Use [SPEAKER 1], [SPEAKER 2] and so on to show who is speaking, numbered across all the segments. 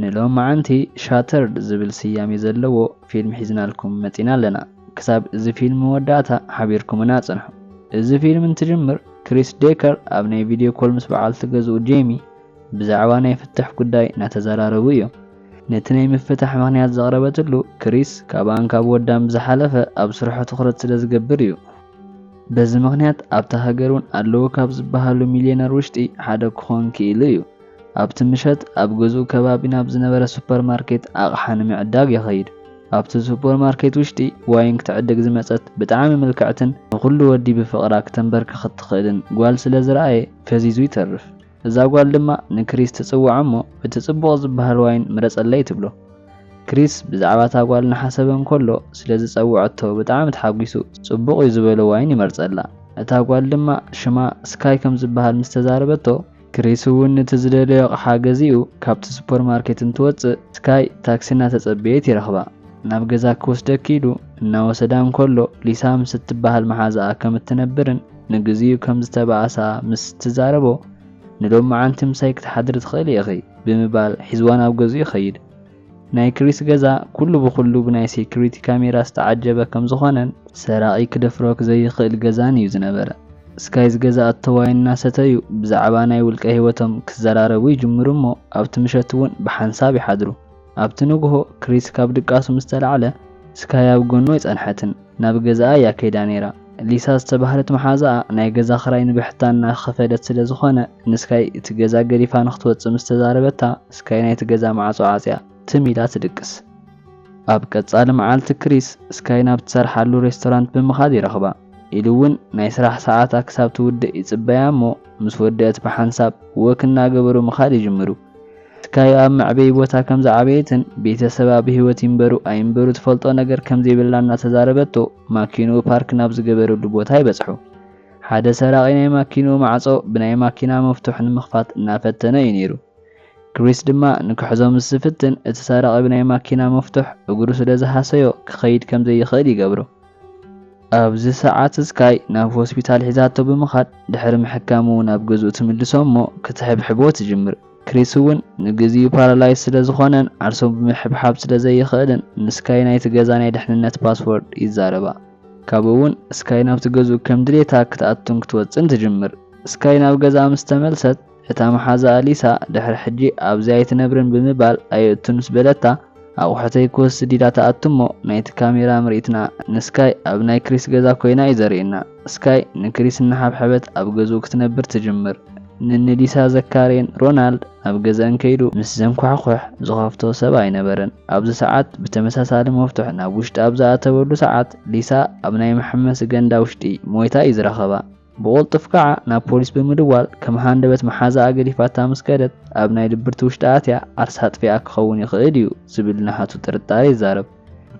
[SPEAKER 1] ንሎማዓንቲ Shattered ዝብል ስያሜ ዘለዎ ፊልም ሒዝናልኩም መጺና ኣለና ክሳብ እዚ ፊልም መወዳእታ ሓቢርኩምና ጽንሑ እዚ ፊልም እንትጅምር ክሪስ ዴከር ኣብ ናይ ቪድዮ ኮል ምስ በዓልቲ ገዝኡ ጄሚ ብዛዕባ ናይ ፍትሕ ጉዳይ ናተዘራረቡ እዮም ነቲ ናይ ምፍታሕ ምክንያት ዘቅረበትሉ ክሪስ ካብኣን ካብ ወዳን ብዝሓለፈ ኣብ ስርሑ ትኩረት ስለ ዝገብር እዩ በዚ ምክንያት ኣብታ ሃገር ውን ኣለዉ ካብ ዝበሃሉ ሚልየነር ውሽጢ ሓደ ክኮን ኪኢሉ እዩ ኣብቲ ምሸት ኣብ ገዝኡ ከባቢ ናብ ዝነበረ ሱፐር ማርኬት ኣቕሓ ንምዕዳግ ይኸይድ። ኣብቲ ሱፐር ማርኬት ውሽጢ ዋይን ክትዕድግ ዝመጸት ብጣዕሚ ምልክዕትን ንኹሉ ወዲ ብፍቕራ ክተንበርክኽ እትኽእልን ጓል ስለ ዝረኣየ ፈዚዙ ይተርፍ። እዛ ጓል ድማ ንክሪስ ትጽውዖ እሞ እቲ ጽቡቕ ዝበሃል ዋይን ምረጸለይ ትብሎ። ክሪስ ብዛዕባ እታ ጓል እናሓሰበ እንከሎ ስለ ዝጸውዐቶ ብጣዕሚ ተሓጒሱ ጽቡቕ እዩ ዝበሎ ዋይን ይመርጸላ። እታ ጓል ድማ ሽማ ስካይ ከም ዝበሃል ምስ ተዛረበቶ፣ ክሪስ እውን ነቲ ዝደለዮ ኣቕሓ ገዚኡ ካብቲ ሱፐርማርኬት እንትወጽእ፣ ስካይ ታክሲ እናተጸበየት ይረኽባ። ናብ ገዛ ክወስደኪ ኢሉ እናወሰዳ እንከሎ፣ ሊሳ ምስ እትበሃል መሓዛኣ ከም እትነብርን ንግዚኡ ከም ዝተባእሳ ምስ ትዛረቦ፣ ንሎምዓንቲ ምሳይ ክትሓድሪ ትኽእሊ ኢኺ ብምባል ሒዝዋ ናብ ገዝኡ ይኸይድ። ናይ ክሪስ ገዛ ኩሉ ብኹሉ ብናይ ሴኩሪቲ ካሜራ ዝተዓጀበ ከምዝኾነን፣ ሰራቒ ክደፍሮ ክዘይኽእል ገዛን እዩ ዝነበረ። ስካይ ዝገዝኣቶ ዋይን እናሰተዩ ብዛዕባ ናይ ውልቀ ህይወቶም ክዘራረቡ ይጅምሩ እሞ ኣብቲ ምሸት እውን ብሓንሳብ ይሓድሩ። ኣብቲ ንጉሆ ክሪስ ካብ ድቃሱ ምስተላዕለ ስካይ ኣብ ጎኑ ኣይጸንሐትን። ናብ ገዛኣ እያ ከይዳ ነይራ። ሊሳ ዝተባህለት መሓዛኣ ናይ ገዛ ክራይ ንብሕታ እናኸፈለት ስለ ዝኾነ ንስካይ እቲ ገዛ ገዲፋ ንክትወፅእ ምስ ተዛረበታ ስካይ ናይቲ ገዛ ማዕፆ ዓፅያ ትም ኢላ ትድቅስ። ኣብ ቀፃሊ መዓልቲ ክሪስ ስካይ ናብ ትሰርሓሉ ሬስቶራንት ብምኻድ ይረኽባ። ኢሉ እውን ናይ ስራሕ ሰዓታ ክሳብ ትውድእ ይፅበያ እሞ ምስ ወደእት ብሓንሳብ ወክ እናገበሩ ምኻድ ይጅምሩ። ትካዩ ኣብ መዕበዪ ቦታ ከም ዝዓበየትን ቤተሰባ ብህይወት ይንበሩ ኣይንበሩ ትፈልጦ ነገር ከም ዘይብላ እናተዛረበቶ ማኪንኡ ፓርክ ናብ ዝገበረሉ ቦታ ይበጽሑ። ሓደ ሰራቒ ናይ ማኪንኡ ማዕጾ ብናይ ማኪና መፍቱሕ ንምኽፋት እናፈተነ እዩ ነይሩ። ክሪስ ድማ ንክሕዞ ምስ ዝፍትን እቲ ሰራቒ ብናይ ማኪና መፍቱሕ እግሩ ስለ ዝሃሰዮ ክኸይድ ከም ዘይኽእል ይገብሮ። ኣብዚ ሰዓት ስካይ ናብ ሆስፒታል ሒዛቶ ብምኻድ ድሕሪ ምሕካሙ ናብ ገዝኡ ትምልሶ እሞ ክትሕብሕቦ ትጅምር። ክሪስ እውን ንግዚኡ ፓራላይዝ ስለ ዝኾነን ዓርሱ ብምሕብሓብ ስለ ዘይኽእልን ንስካይ ናይቲ ገዛ ናይ ድሕንነት ፓስዎርድ ይዛረባ። ካብኡ እውን ስካይ ናብቲ ገዝኡ ከም ድሌታ ክትኣቱን ክትወጽእን ትጅምር። ስካይ ናብ ገዝኣ ምስ ተመልሰት፣ እታ መሓዛኣ ሊሳ ድሕሪ ሕጂ ኣብዚ ኣይትነብርን ብምባል ኣየእቱ ምስ በለታ፣ ኣቑሑተይ ክወስድ ኢላ ትኣቱ እሞ ናይቲ ካሜራ ምርኢትና ንስካይ ኣብ ናይ ክሪስ ገዛ ኮይና እዩ ዘርእየና። ስካይ ንክሪስ እናሓብሐበት ኣብ ገዝኡ ክትነብር ትጅምር። ንኒ ሊሳ ዘካርየን ሮናልድ ናብ ገዝኣን ከይዱ ምስ ዘንኳሕኩሕ ዝኸፍቶ ሰብ ኣይነበረን። ኣብዚ ሰዓት ብተመሳሳሊ መፍቱሕ ናብ ውሽጢ ኣብ ዝኣተወሉ ሰዓት ሊሳ ኣብ ናይ መሐመሲ ገንዳ ውሽጢ ሞይታ እዩ ዝረኸባ። ብቑልጡፍ ከኣ ናብ ፖሊስ ብምድዋል ከም ሃንደበት መሓዛኣ ገዲፋታ ምስ ከደት ኣብ ናይ ድብርቲ ውሽጢ ኣትያ ዓርሳ ኣጥፊኣ ክኸውን ይኽእል እዩ ዝብል ናሃቱ ጥርጣረ ይዛረብ።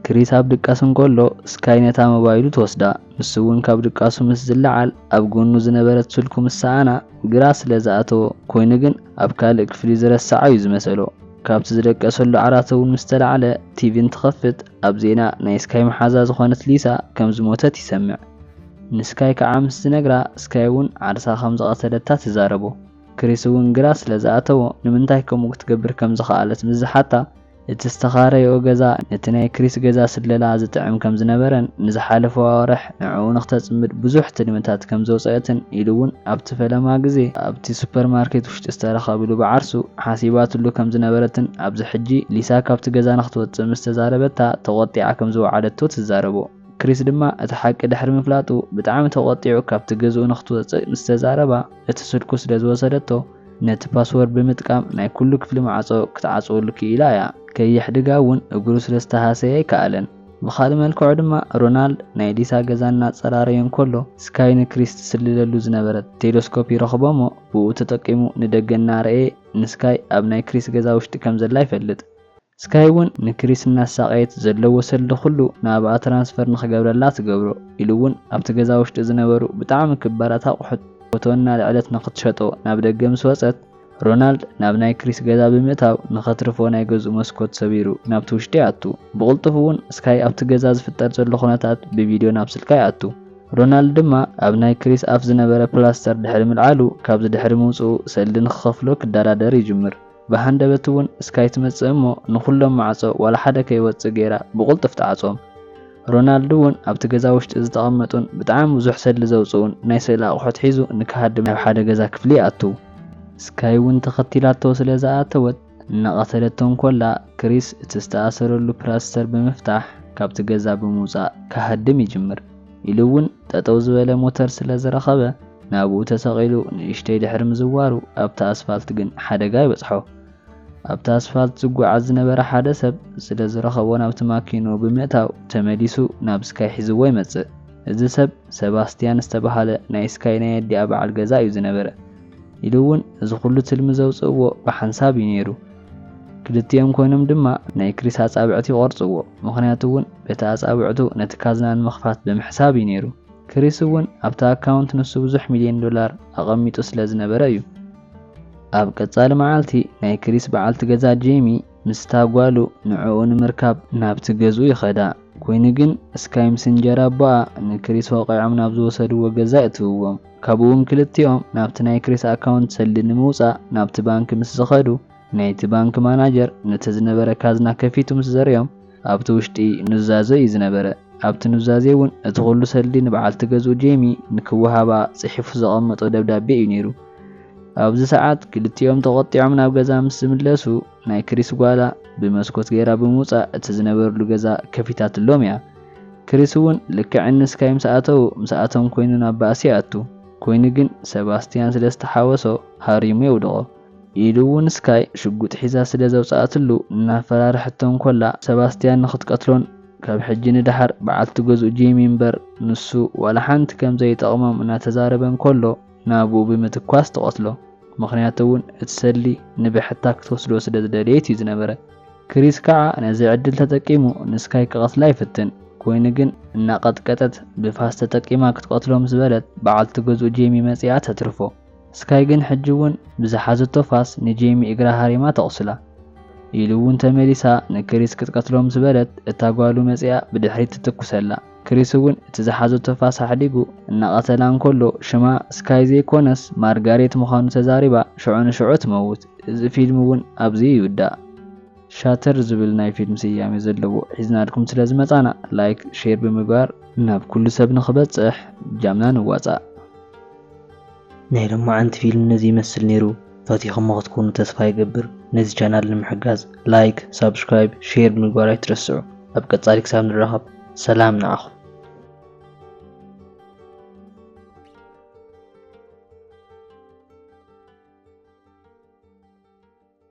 [SPEAKER 1] ክሪስ ኣብ ድቃስ እንከሎ ስካይ ነታ ሞባይሉ ትወስዳ፣ ንሱ'ውን ካብ ድቃሱ ምስ ዝለዓል ኣብ ጎኑ ዝነበረት ስልኩ ምስ ሰኣና ግራ ስለ ዝኣተዎ ኮይኑ ግን ኣብ ካልእ ክፍሊ ዝረሰዓ እዩ ዝመሰሎ። ካብቲ ዝደቀሰሉ ዓራት'ውን ምስ ተላዕለ ቲቪ እንትኸፍት ኣብ ዜና ናይ ስካይ መሓዛ ዝኾነት ሊሳ ከም ዝሞተት ይሰምዕ። ንስካይ ከዓ ምስ ዝነግራ ስካይ እውን ዓርሳ ከም ዝቀተለታ ትዛረቦ። ክሪስ እውን ግራ ስለ ዝኣተዎ ንምንታይ ከምኡ ክትገብር ከም ዝኸኣለት ምስ ዝሓታ እቲ ዝተኻረይኦ ገዛ ነቲ ናይ ክሪስ ገዛ ስለላ ዝጥዕም ከም ዝነበረን ንዝሓለፉ ኣዋርሕ ንዕኡ ንክተፅምድ ብዙሕ ትልምታት ከም ዘውፀአትን ኢሉ እውን ኣብቲ ፈለማ ግዜ ኣብቲ ሱፐር ማርኬት ውሽጢ ዝተረኸብሉ ብዓርሱ ሓሲባትሉ ከም ዝነበረትን ኣብዚ ሕጂ ሊሳ ካብቲ ገዛ ንክትወፅእ ምስ ተዛረበታ ተቆጢዓ ከም ዝወዓለቶ ትዛረቦ። ክሪስ ድማ እቲ ሓቂ ድሕሪ ምፍላጡ ብጣዕሚ ተቖጢዑ ካብቲ ገዝኡ ንክትወጽእ ምስ ተዛረባ እቲ ስልኩ ስለ ዝወሰደቶ ነቲ ፓስወርድ ብምጥቃም ናይ ኩሉ ክፍሊ ማዕጾ ክትዓጽወሉ ክኢላ እያ። ከየሕድጋ እውን እግሩ ስለ ዝተሃሰየ ኣይከኣለን። ብኻልእ መልክዑ ድማ ሮናልድ ናይ ሊሳ ገዛ እናጸራረየ እንከሎ ስካይ ንክሪስ ትስልለሉ ዝነበረት ቴለስኮፕ ይረኽቦ'ሞ ብኡ ተጠቂሙ ንደገ እናረኣየ ንስካይ ኣብ ናይ ክሪስ ገዛ ውሽጢ ከም ዘላ ይፈልጥ። ስካይ ውን ንክሪስ እናሳቀየት ዘሎ ወሰልዲ ኩሉ ናብኣ ትራንስፈር ንክገብረላ ትገብሮ ኢሉ ውን ኣብቲ ገዛ ውሽጢ ዝነበሩ ብጣዕሚ ክባራት ኣቁሑት ፎቶ እናልዐለት ንክትሸጦ ናብ ደገ ምስ ወፀት ሮናልድ ናብ ናይ ክሪስ ገዛ ብምእታው ንከትርፎ ናይ ገዝኡ መስኮት ሰቢሩ ናብቲ ውሽጢ ይኣቱ ብቅልጡፉ ውን ስካይ ኣብቲ ገዛ ዝፍጠር ዘሎ ኩነታት ብቪድዮ ናብ ስልካ ይኣቱ ሮናልድ ድማ ኣብ ናይ ክሪስ ኣፍ ዝነበረ ፕላስተር ድሕሪ ምልዓሉ ካብዚ ድሕሪ ምውፅኡ ሰልዲ ንክከፍሎ ክዳራደር ይጅምር። ብሃንደበት እውን እስካይ ትመጽእ እሞ ንኹሎም ማዕጾ ዋላ ሓደ ከይወጽእ ገይራ ብቁልጡፍ ትዓጽዎም። ሮናልድ እውን ኣብቲ ገዛ ውሽጢ ዝተቐመጡን ብጣዕሚ ብዙሕ ሰድሊ ዘውጽኡን ናይ ስእሊ ኣቑሑት ሒዙ ንክሃድም ናብ ሓደ ገዛ ክፍሊ ይኣትው። እስካይ እውን ተኸቲላቶ ስለ ዝኣተወት እናቐተለቶ እንኮላ ክሪስ እቲ ዝተኣሰረሉ ፕላስተር ብምፍታሕ ካብቲ ገዛ ብምውጻእ ክሃድም ይጅምር። ኢሉ እውን ጠጠው ዝበለ ሞተር ስለ ዝረኸበ ናብኡ ተሰቒሉ ንእሽተይ ድሕሪ ምዝዋሩ ኣብታ ኣስፋልት ግን ሓደጋ ይበፅሖ። ኣብታ ኣስፋልት ዝጓዓዝ ዝነበረ ሓደ ሰብ ስለ ዝረኸቦ ናብቲ ማኪንኡ ብምእታው ተመሊሱ ናብ ስካይ ሒዝዎ ይመፅእ። እዚ ሰብ ሰባስቲያን ዝተብሃለ ናይ ስካይ ናይ ኣዲኣ በዓል ገዛ እዩ ዝነበረ። ኢሉ እውን እዚ ኩሉ ትልሚ ዘውጽእዎ ብሓንሳብ እዩ ነይሩ። ክልቲኦም ኮይኖም ድማ ናይ ክሪስ ኣጻብዕቲ ይቖርጽዎ፣ ምኽንያቱ እውን በቲ ኣጻብዕቱ ነቲ ካዝና ንምኽፋት ብምሕሳብ እዩ ነይሩ። ክሪስ እውን ኣብቲ ኣካውንት ንሱ ብዙሕ ሚልዮን ዶላር ኣቐሚጡ ስለ ዝነበረ እዩ። ኣብ ቀጻሊ መዓልቲ ናይ ክሪስ በዓልቲ ገዛ ጄሚ ምስታ ጓሉ ንዕኡ ንምርካብ ናብቲ ገዝኡ ይኸዳ፣ ኮይኑ ግን ስካይምስ እንጀራ ኣቦኣ ንክሪስ ወቒዖም ናብ ዝወሰድዎ ገዛ የእትውዎም። ካብኡውን ክልቲኦም ናብቲ ናይ ክሪስ ኣካውንት ሰልዲ ንምውጻእ ናብቲ ባንኪ ምስ ዝኸዱ ናይቲ ባንኪ ማናጀር ነቲ ዝነበረ ካዝና ከፊቱ ምስ ዘርእዮም ኣብቲ ውሽጢ ኑዛዘ እዩ ዝነበረ። ኣብቲ ኑዛዜ እውን እቲ ኩሉ ሰልዲ ንበዓልቲ ገዝኡ ጄሚ ንክወሃባ ጽሒፉ ዘቐመጦ ደብዳቤ እዩ ነይሩ። ኣብዚ ሰዓት ክልቲኦም ተቖጢዖም ናብ ገዛ ምስ ዝምለሱ፣ ናይ ክሪስ ጓላ ብመስኮት ገይራ ብምውጻእ እቲ ዝነበርሉ ገዛ ከፊታትሎም እያ። ክሪስ እውን ልክዕ እኒ ስካይ ምስ ኣተዉ ምስኣቶም ኮይኑ ናብ ባእሲ ይኣቱ። ኮይኑ ግን ሰባስትያን ስለ ዝተሓወሶ ሃሪሙ የውድቖ። ኢሉ እውን ስካይ ሽጉጥ ሒዛ ስለ ዘውጽኣትሉ እናፈራርሐቶ እንኮላ ሰባስትያን ንኽትቀትሎን ካብ ሕጂ ንደሓር በዓልቲ ገዝኡ ጄሚ እምበር ንሱ ዋላ ሓንቲ ከም ዘይጠቕሞም እናተዛረበ እንኮሎ ናብኡ ብምትኳስ ትቐትሎ። ምኽንያቱ እውን እቲ ሰልዲ ንብሕታ ክትወስዶ ስለ ዝደለየት እዩ ዝነበረ። ክሪስ ከዓ ነዚ ዕድል ተጠቂሙ ንስካይ ክቐትላ ይፍትን። ኮይኑ ግን እናቐጥቀጠት ብፋስ ተጠቂማ ክትቐትሎ ምስ በለት በዓልቲ ገዝኡ ጄሚ መፂኣ ተትርፎ። ስካይ ግን ሕጂ እውን ብዝሓዘቶ ፋስ ንጄሚ እግራ ሃሪማ ተቑስላ። ኢሉ እውን ተመሊሳ ንክሪስ ክትቀትሎ ምስ በለት እታ ጓሉ መፂኣ ብድሕሪት ትትኩሰላ። ክሪስ እውን እቲ ዝሓዘቶ ፋስ ኣሕዲጉ እናቐተላ እንከሎ ሽማ ስካይ ዘይኮነስ ማርጋሬት ምዃኑ ተዛሪባ ሽዑ ንሽዑ ትመውት። እዚ ፊልም እውን ኣብዚ ይውዳእ። ሻተር ዝብል ናይ ፊልም ስያሜ ዘለዎ ሒዝናልኩም ስለ ዝመጻና ላይክ ሼር ብምግባር ናብ ኩሉ ሰብ ንኽበጽሕ ጃምና ንዋጻእ።
[SPEAKER 2] ናይ ሎማዓንቲ ፊልም ነዚ ይመስል ነይሩ ፈቲኹሞ ክትኮኑ ተስፋ ይገብር ነዚ ቻናል ንምሕጋዝ ላይክ ሳብስክራይብ ሼር ምግባር ኣይትረስዑ ኣብ ቀጻሊ ክሳብ ንራኸብ ሰላም ንዓኹም